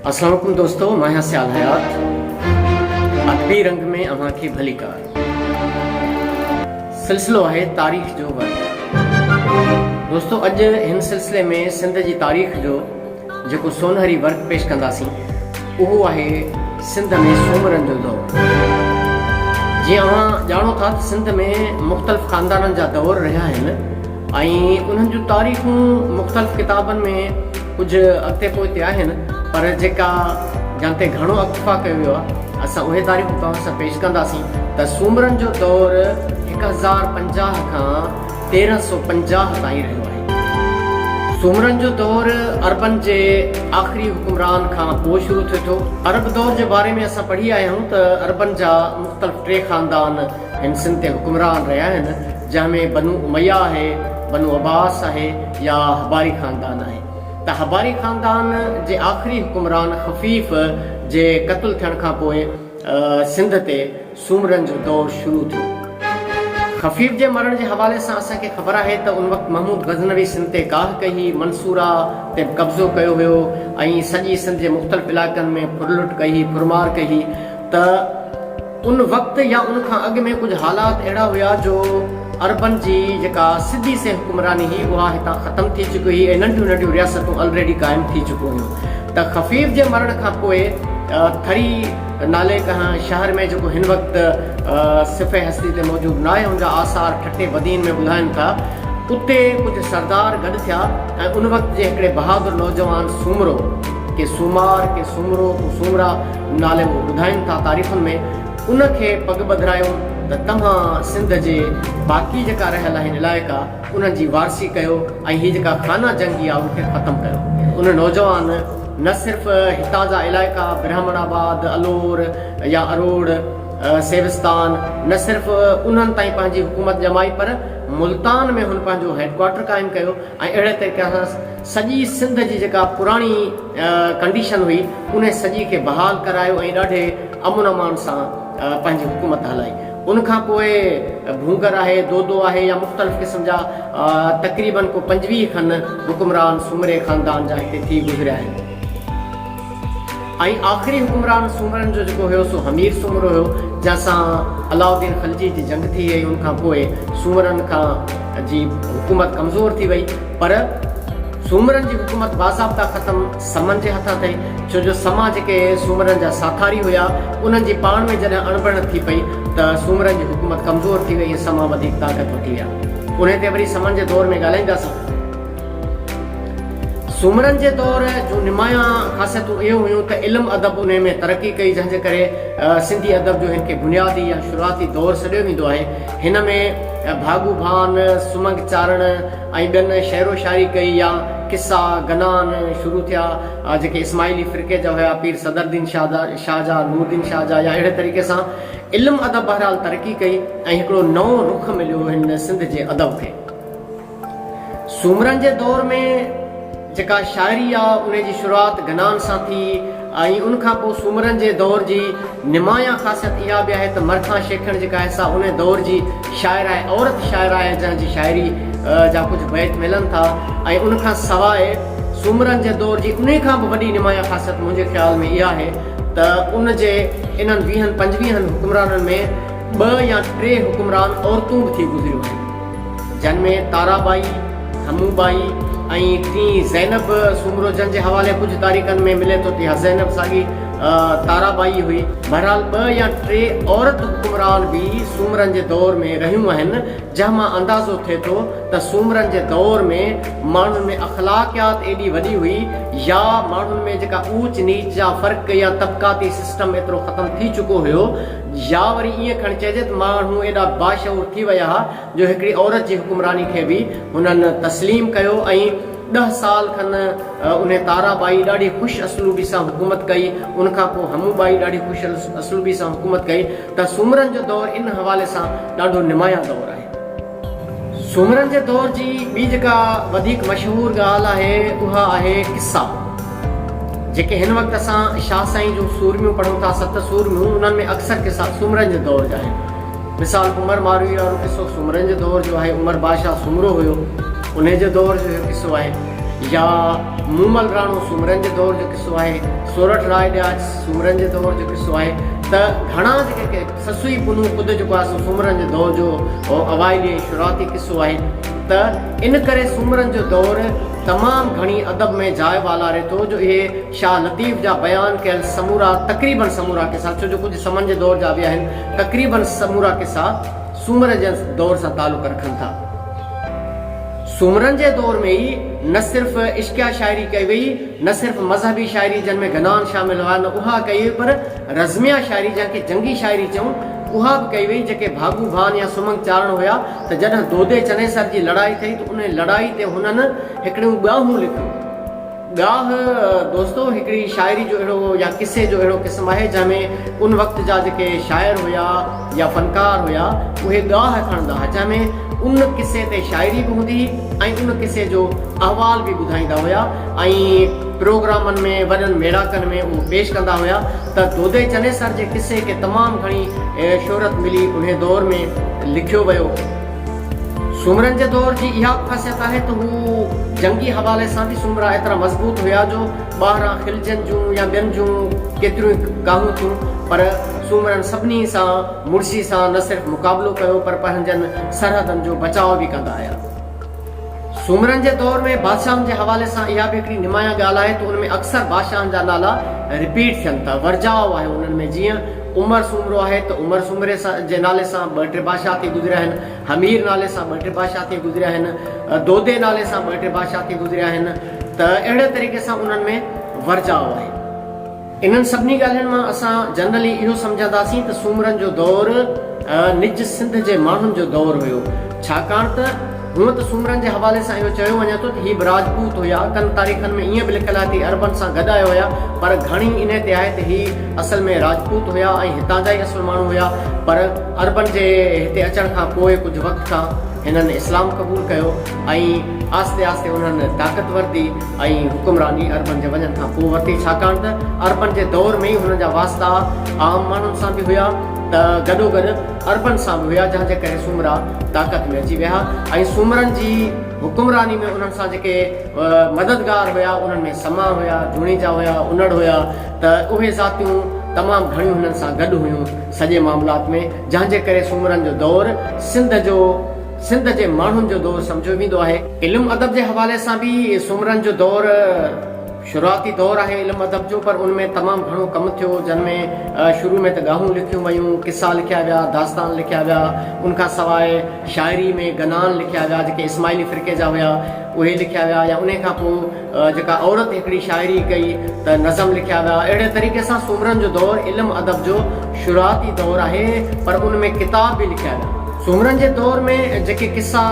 اسلام عليڪم دوستو مان آهيان سيال حيات ادبي رنگ ۾ اوهان کي ڀليڪار سلسلو آهي تاريخ جو ور دوستو اڄ هن سلسلي ۾ سنڌ جي تاريخ جو جيڪو سونهري ورق پيش ڪنداسين اهو آهي سنڌ ۾ سومرن جو دور جي اوهان ڄاڻو ٿا ته سنڌ ۾ مختلف خاندانن جا دور رهيا آهن ۽ انهن جون تاريخون مختلف ڪتابن ۾ ڪجهه اڳتي پوئتي آهن پر جيڪا جن تي گهڻو اڪتفا ڪيو ويو آهي اسان اهي تاريخون توهان سان پيش ڪنداسين ته سومرن جو دور هڪ هزار پنجاهه کان تيرهن سؤ پنجاهه تائين رهيو آهي. سومرن جو دور عربن جي آخري حڪمران کان پوء شروع ٿئي ٿو. عرب دور جي باري ۾ اسان پڙهي آيا آهيون ته عربن جا مختلف ٽي خاندان هن سنڌ تي حڪمران رهيا آهن جنهن ۾ بنو اميه آهي، بنو عباس آهي يا حباري خاندان آهي ته حباري خاندان جي آخري حڪمران خفيف جي قتل ٿيڻ کان پوء سنڌ تي سومرن جو دور شروع ٿيو. خفيف جي مرڻ جي حوالي سان اسان کي خبر آهي ته ان وقت محمود غزنوي سنڌ تي ڪاهه ڪئي هئي، منصوره تي به قبضو ڪيو هيو ۽ سڄي سنڌ جي مختلف علائقن ۾ ڦرلٽ ڪئي هئي، ڦرمار ڪئي هئي ته. ان وقت يا ان کان اڳ ۾ ڪجهه حالات اهڙا هيا جو عربن جي جيڪا سڌي سنئين حڪمراني هئي اها هتان ختم ٿي چڪي هئي ۽ ننڍيون ننڍيون رياستون الريڊي قائم ٿي چڪيون هيون ته خفيف جي مرڻ کان پوء ٿري نالي ڪنهن شهر ۾ جيڪو هن وقت صفحه هستي تي موجود ناهي ان جا آثار ٺٽي بدين ۾ ٻڌائن ٿا اتي ڪجهه سردار گڏ ٿيا ۽ ان وقت جي هڪڙي بهادر نوجوان سومرو ڪي سومار ڪي سومرو ڪو سومرا نالي اهو ٻڌائين ٿا تاريخن ۾ ان کي پڳ ٻڌرايون ته توهان سنڌ جي باقي جيڪا رهيل آهن علائقا انهن جي وارثي ڪيو ۽ هي جيڪا خانه جنگي آهي ان کي ختم ڪيو ان نوجوان نه صرف هتان جا علائقا برهمڻ آباد الور يا اروڙ سيوستان نه صرف انهن تائين پنهنجي حڪومت ڄمائي پر ملتان ۾ هن پنهنجو هيڊ ڪوارٽر قائم ڪيو ۽ اهڙي طريقي سان سڄي سنڌ جي جيڪا پراڻي ڪنڊيشن هئي ان سڄي کي بحال ڪرايو ۽ ڏاڍي امن امان سان پنهنجي حڪومت هلائي ان کان پوء ڀونگر آهي دودو آهي يا مختلف قسم جا تقريبن ڪو پنجويهه کن حڪمران سومري خاندان جا هتي ٿي گذريا آهن. ۽ آخري حڪمران سومرن جو جيڪو هيو سو حمير سومرو هيو جنهن سان علاء الدين خلجي جي جنگ ٿي ۽ ان کان پوء سومرن کان جي حڪومت ڪمزور ٿي وئي پر سومرن جي حڪومت باضابطا ختم سمن جي هٿان ٿئي ڇو جو سما جيڪي سومرن جا ساٿاري هيا انهن جي پاڻ ۾ جڏهن اڻبڻت ٿي پئي ته سومرن جي حڪومت ڪمزور ٿي وئي ۽ سما وڌيڪ طاقتور ٿي ويا انهي تي وري سمن جي دور ۾ ڳالهائينداسين. سومرن جي دور جون نمايان خاصيتون اهو هيون ته علم ادب انهي ۾ ترقي ڪئي جنهن جي ڪري سنڌي ادب جو هن کي بنيادي يا شروعاتي دور سڏيو ويندو آهي هن ۾ ڀاڳو ڀان سمنگ چارڻ ۽ ٻين شعرو شاعري ڪئي يا قصا گنان شروع ٿيا جيڪي اسماعيلي فرقي جا هيا پير صدرالدين شاهه جا نوردين شاهه جا يا اهڙي طريقي سان علم ادب بهرحال ترقي ڪئي ۽ هڪڙو نئون رخ مليو هن سنڌ جي ادب کي. سومرن جي دور ۾ جيڪا شاعري آ ان جي شروعات گنان سان ٿي ۽ ان کان پوء سومرن جي دور جي نمايان خاصيت اها به آهي ته مرکان شيخڻ جيڪا آهي سا ان دور جي شاعره آهي عورت شاعره آهي جنهن جي شاعري جا ڪجهه بيت ملن ٿا ۽ ان کان سواء سومرن جي دور جي انهي کان به وڏي نمايان خاصيت منهنجي خيال ۾ اها آهي ته ان جي انهن ويهن پنجويهن حڪمرانن ۾ ٻه يا ٽي حڪمران عورتون به ٿي گذريون آهن جن ۾ تارا ٻائي، ڌمون ٻائي ۽ ٽين زينب سومرو جن جي حوالي ڪجهه تاريخن ۾ ملي ٿو ته اها زينب ساڳي تارا ٻائي هئي. بهرحال ٻه يا ٽي عورت حڪمران به سومرن جي دور ۾ رهيون آهن جنهن مان اندازو ٿئي ٿو ته سومرن جي دور ۾ ماڻهن ۾ اخلاقيات ايڏي وڏي هئي يا ماڻهن ۾ جيڪا اوچ نيچ جا فرق يا طبقاتي سسٽم ايترو ختم ٿي چڪو هيو يا وري ائين کڻ چئجي ته ماڻهو ايڏا باشعور ٿي ويا ها جو هڪڙي عورت جي حڪمراني کي به هنن تسليم ڪيو ۽ ڏهه سال کن انهي تارا ٻائي ڏاڍي خوش اسلوبي سان حڪومت ڪئي ان کان پوء همو ٻائي ڏاڍي خوش اسلوبي سان حڪومت ڪئي ته سومرن جو دور ان حوالي سان ڏاڍو نمايان دور آهي. سومرن جي دور جي ٻي جيڪا وڌيڪ مشهور ڳالهه آهي اها آهي قصا جيڪي هن وقت اسان شاهه سائين جون سورميون پڙهون ٿا ست سورميون انهن ۾ اڪثر قصا سومرن جي دور جا آهن مثال عمر ماروئي وارو قصو سومرن جي دور جو آهي عمر بادشاهه سومرو هيو انهي جي دور جو اهو قصو آهي يا مومل راڻو سومرن جي دور جو قصو آهي سورٺ راء ڏياچ سومرن جي دور جو قصو آهي ته گهڻا جيڪي سسئي پنهون خود جيڪو آهي سو سومرن جي دور جو اوائلي ۽ شروعاتي قصو آهي ته ان ڪري سومرن جو دور تمام گهڻي ادب ۾ جاء والاري ٿو جو اهي شاهه لطيف جا بيان ڪيل سمورا تقريبن سمورا قصا ڇو جو ڪجهه سمن جي دور جا به آهن تقريبن سمورا قصا سومر جي دور سان تعلق رکن ٿا. سومرن جي دور ۾ ئي نه صرف عشقيه شاعري ڪئي وئي نه صرف مذهبي شاعري جنهن ۾ گنان شامل هئا نه اها ڪئي وئي پر رزميه شاعري جنهن کي جنگي شاعري چئون اها به ڪئي وئي جيڪي ڀاڳو ڀان يا سمنگ چارڻ هيا ته جڏهن دودي چنيسر جي لڙائي ٿئي ته انهي لڙائي تي هنن هڪڙيون ڳاهون لکيون. ڳاهه دوستو هڪڙي شاعري جو اهڙو يا قصي جو اهڙو قسم آهي جنهن ۾ ان وقت جا جيڪي شاعر هيا يا فنڪار هيا اهي ڳاهه کڻندا هيا جنهن ۾ ان قصي تي شاعري به هوندي هئي ۽ ان قصي جو احوال به ٻڌائيندا هيا ۽ پروگرامن ۾ وڏن ميڙاڪن ۾ اهو پيش ڪندا هيا ته دودي چنيسر جي قصي کي تمام گهڻي شهرت ملي انهي دور ۾ لکيو ويو. سومرن جي دور جي اها به خاصيت آهي ته هو جنگي حوالي سان به سومرا ايترا مضبوط هيا جو ٻاهران خلجين جون يا ٻين جون ڪيتريون ئي ڪاهون ٿيون پر سومرن سڀني سان مڙسي سان نه صرف مقابلو ڪيو پر پنهنجن سرحدن جو بچاء به ڪندا هيا. سومرن جي دور ۾ بادشاهن جي حوالي سان اها به هڪڙي نمايان ڳالهه آهي ته ان ۾ اڪثر بادشاهن جا نالا رپيٽ ٿين ٿا، ورجاء آهي انهن ۾ جيئن عمر سومرو آهي ته عمر سومري جي نالي سان ٻه ٽي بادشاهه ٿي گذريا آهن، حمير نالي سان ٻه ٽي بادشاهه ٿي گذريا آهن، دودي نالي سان ٻه ٽي بادشاهه ٿي گذريا آهن ته اهڙي طريقي سان انهن ۾ ورجاء آهي. انهن سڀني ڳالهين مان اسان جنرلي اهو سمجهنداسين ته سومرن جو دور نج سنڌ جي ماڻهن جو دور هيو ڇاڪاڻ ته هونء ته سومرن جي حوالي سان اهو چيو وڃي ٿو ته هي به راجپوت هيا ڪن تاريخن ۾ ائين به لکيل آهي ته هي عربن سان گڏ آيو هيا پر گهڻي انهي تي آهي ته هي اصل ۾ راجپوت هيا ۽ هتان جا ئي اصل ماڻهو هيا پر عربن جي هتي اچڻ کان پوء ڪجهه وقت کان هنن اسلام قبول ڪيو ۽ آهستي آهستي انهن طاقتور ٿي ۽ حڪمراني عربن جي وڃڻ کان پوء ورتي، ڇاڪاڻ ته عربن جي دور ۾ ئي هنن جا واسطا عام ماڻهن سان به هيا ته گڏوگڏ عربن سان به هيا، جنهن جي ڪري سومرا طاقت ۾ اچي ويها ۽ سومرن جي حڪمراني ۾ انهن سان جيڪي مددگار هيا، انهن ۾ سما هيا، جوڻيجا هيا، انڙ هيا ته اهي ذاتيون تمام گهڻيون هنن سان گڏ هيون سڄي معاملات ۾، جنهن جي ڪري سومرن جو دور سنڌ جو. سنڌ جي ماڻهن جو دور سمجهيو ويندو آهي. علم ادب جي حوالي سان به سومرن جو دور شروعاتي دور آهي علم ادب جو پر ان ۾ تمام گهڻو ڪم ٿيو جن ۾ شروع ۾ ته ڳاهون لکيون ويون، قصا لکيا ويا، داستان لکيا ويا، ان کان سواء شاعري ۾ گنان لکيا ويا جيڪي اسماعيلي فرقي جا هيا اهي لکيا ويا يا انهي کان پوء جيڪا عورت هڪڙي شاعري ڪئي ته نظم لکيا ويا اهڙي طريقي سان سومرن جو دور علم ادب جو شروعاتي دور آهي پر ان ۾ ڪتاب به لکيا ويا سومرن جي دور ۾ جيڪي قصا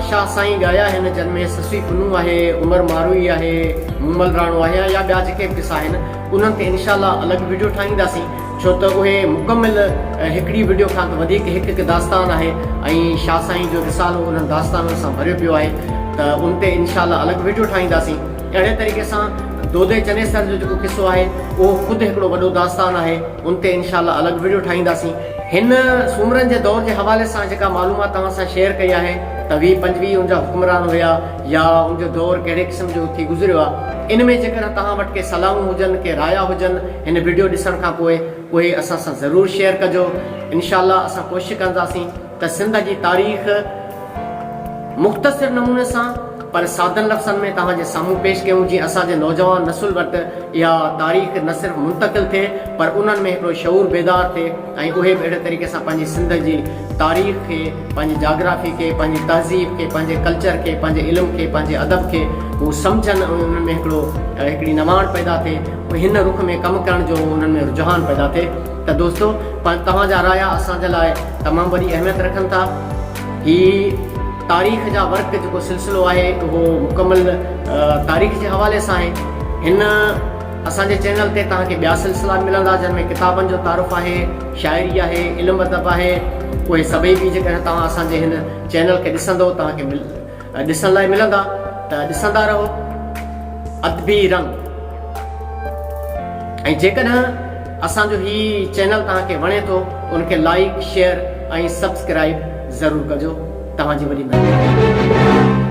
شاهه سائين ڳايا آهن جن ۾ سسئي پنهون آهي عمر ماروئي آهي مومل راڻو آهي يا ٻيا جيڪي به قصا آهن انهن تي انشاء الله الڳ وڊيو ٺاهينداسين. ڇو ته اهي مڪمل هڪڙي وڊيو کان ته وڌيڪ هڪ هڪ داستان آهي ۽ شاهه سائين جو رسالو انهن داستانن سان ڀريو پيو آهي ته ان تي انشاء الله الڳ وڊيو ٺاهينداسين اهڙي طريقي سان دودي چنيسر جو جيڪو قصو آهي اهو خود هڪڙو وڏو داستان آهي ان تي انشاء الله الڳ وڊيو ٺاهينداسين. هن سومرن جي دور جي حوالي سان جيڪا معلومات توهان سان شيئر ڪئي آهي ته ويهه پنجويهه ان جا حڪمران هيا يا ان جو دور ڪهڙي قسم جو ٿي گذريو آهي ان ۾ جيڪڏهن توهان وٽ ڪي صلاحون هجن ڪي رايا هجن هن وڊيو ڏسڻ کان پوء اهي اسان سان ضرور شيئر ڪجو انشاء الله اسان ڪوشش ڪنداسين ته سنڌ جي تاريخ مختصر نموني سان پر سادن لفظن ۾ توهان جي سامهون پيش ڪيون جيئن اسان جي نوجوان نسل وٽ اها تاريخ نه صرف منتقل ٿئي پر انهن ۾ هڪڙو شعور بيدار ٿئي ۽ اهي به اهڙي طريقي سان پنهنجي سنڌ جي تاريخ کي پنهنجي جاگرافي کي پنهنجي تهذيب کي پنهنجي ڪلچر کي پنهنجي علم کي پنهنجي ادب کي هو سمجهن ۽ انهن ۾ هڪڙو هڪڙي نواڻ پيدا ٿئي هن رخ ۾ ڪم ڪرڻ جو انهن ۾ رجحان پيدا ٿئي ته دوستو توهان جا رايا اسان جي لاء تمام وڏي اهميت رکن ٿا هي تاريخ جا ورق جيڪو سلسلو آهي اهو مڪمل تاريخ جي حوالي سان آهي هن اسان جي چينل تي توهان کي ٻيا سلسلا به ملندا جن ۾ ڪتابن جو تعارف آهي شاعري آهي علم ادب آهي اهي سڀئي به جيڪڏهن توهان اسان جي هن چينل کي ڏسندو توهان کي مل ڏسڻ لاء ملندا ته ڏسندا رهو ادبي رنگ ۽ جيڪڏهن اسان جو هي چينل توهان کي وڻي ٿو ان کي لائيڪ شيئر ۽ سبسڪرائيب ضرور ڪجو توهان جي وڏي مهرباني